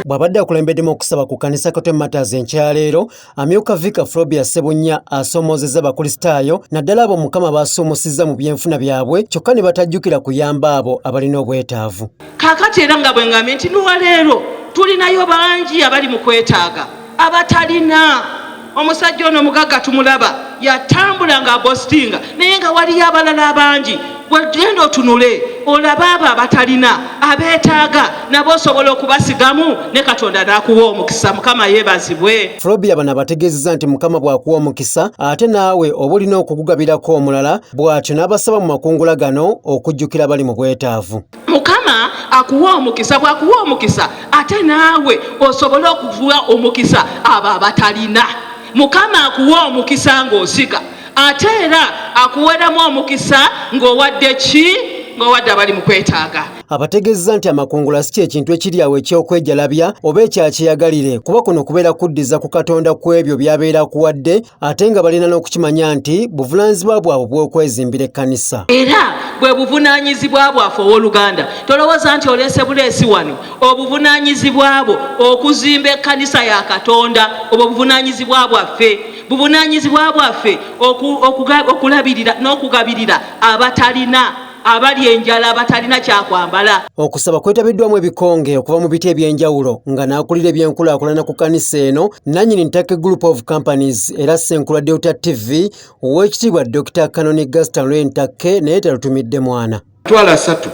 bw'abadde akulembeddemu okusaba ku kkanisa katwe matters enkyaleero amyuka vika frobia sebunnya asoomoozezza abakulisitaayo naddala abo mukama baasuumusizza mu byenfuna byabwe kyokka ne batajjukira kuyamba abo abalina obwetaavu kakati era nga bwe ngambye nti luwaleero tulinayo bangi abali mu kwetaaga abatalina omusajja ono mugagga tumulaba yatambula nga agositinga naye nga waliyo abalala abangi wegenda otunule olabe abo abatalina abeetaaga nabo osobola okubasigamu ne katonda n'akuwa omukisa mukama yeebazibwe flobia bano abategeezeza nti mukama bw'akuwa omukisa ate naawe oba olina okugugabirako omulala bw'atyo n'abasaba mu makungula gano okujjukira bali mu bwetaavu Mukama akuwe omukisa, bwakuwa omukisa ate naawe osobole okuwa omukisa abo abatalina. Mukama akuwe omukisa ng'osika ate era akuweremu omukisa ng'owadde ki ng'owadde abali mu kwetaaga. Abategezza nti amakungula si kyekintu ekiri awo eky'okwejalabya oba ekyakyeyagalire kuba kuno kubeera kuddiza ku Katonda ku ebyo by'abeera akuwadde ate nga balina n'okukimanya nti buvunaanyizibwa bwabwe bw'okwezimbira ekkanisa era bwe buvunaanyizibwa bwaffe ow'oluganda tolowooza nti oleese buleesi wano obuvunaanyizibwa bwo okuzimba ekkanisa ya katonda obwo buvunaanyizibwa bwaffe buvunaanyizibwa bwaffe okulabirira n'okugabirira abatalina abali enjala abatalina kyakwambala. Okusaba kwetabiddwamu ebikonge okuva mu biti eby'enjawulo nga n'akulira ebyenkulaakulana ku kanisa eno nanyini Ntake Group of Companies era Ssenkulu Delta TV ow'ekitiibwa Dr. Kanoni Gaston Lwe Ntake naye talutumidde mwana. Twala asatu.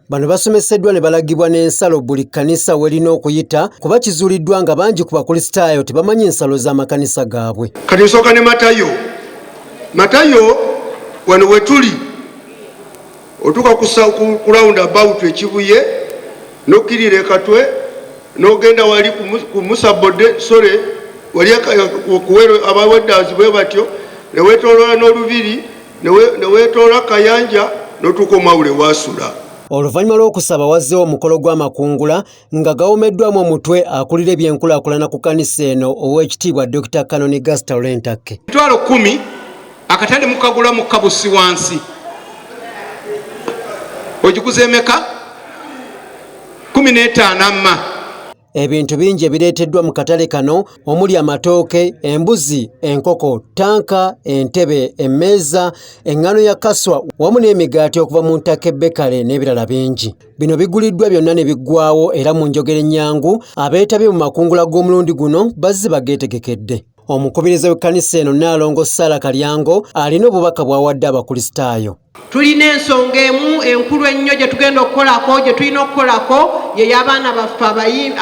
Bano basomeseddwa ne balagibwa n'ensalo buli kkanisa welina okuyita kuba kizuuliddwa nga bangi ku bakulisitaayo tebamanyi nsalo z'amakanisa gaabwe. Kati nsooka ne Matayo. Matayo wano wetuli otuka ku round about ekibuye nokirira ekatwe nogenda wali kumusabode sore wali kuwero abawedazi bwe batyo newetolola nolubiri newetolola kayanja notuka omwawule wasula. Oluvanyuma lwokusaba wazzewo omukolo gwamakungula Nga gawomeddwamu omutwe akulira ebyenkulaakulana ku kanisa eno ow'ekitiibwa Dokita Kanoni Gasita Olentakke. Emitwalo kkumi akatale mukagula mu kabusi wansi ogikuza emeka kumi n'etaano amma. Ebintu bingi ebireeteddwa mu katale kano omuli amatooke, embuzi, enkoko, ttanka, entebe, emmeeza, eŋŋano ya kaswa wamu n'emigaati okuva mu Ntake Bekale n'ebirala bingi. Bino biguliddwa byonna ne biggwawo era mu njogera ennyangu abeetabye mu makungula g'omulundi guno bazze bageetegekedde. Omukubiriza w'ekkanisa eno Nnaalongo Ssaala Kalyango alina obubaka bw'awadde Abakulisitaayo. Tulina ensonga emu enkulu ennyo gye tugenda okukolako gye tulina okukolako ye y'abaana baffe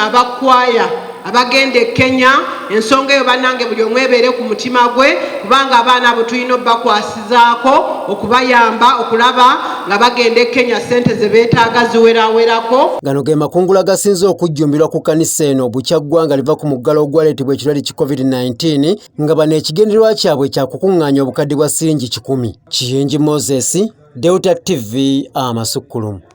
abakwaya. abagenda e Kenya ensonga eyo banange buli omu ebeere ku mutima gwe kubanga abaana abo tulina obakwasizaako okubayamba okulaba nga bagenda e Kenya sente ze beetaaga ziwerawerako. Gano ge makungula gasinze okujjumbirwa ku kanisa eno bukya ggwanga liva ku muggalo ogwaleetebwa ekirwadde ki COVID-19 nga bano ekigendererwa kyabwe kya kukuŋŋaanya obukadde bwa siringi kikumi. Kiyingi Moses, Delta TV, Amasukkulumu.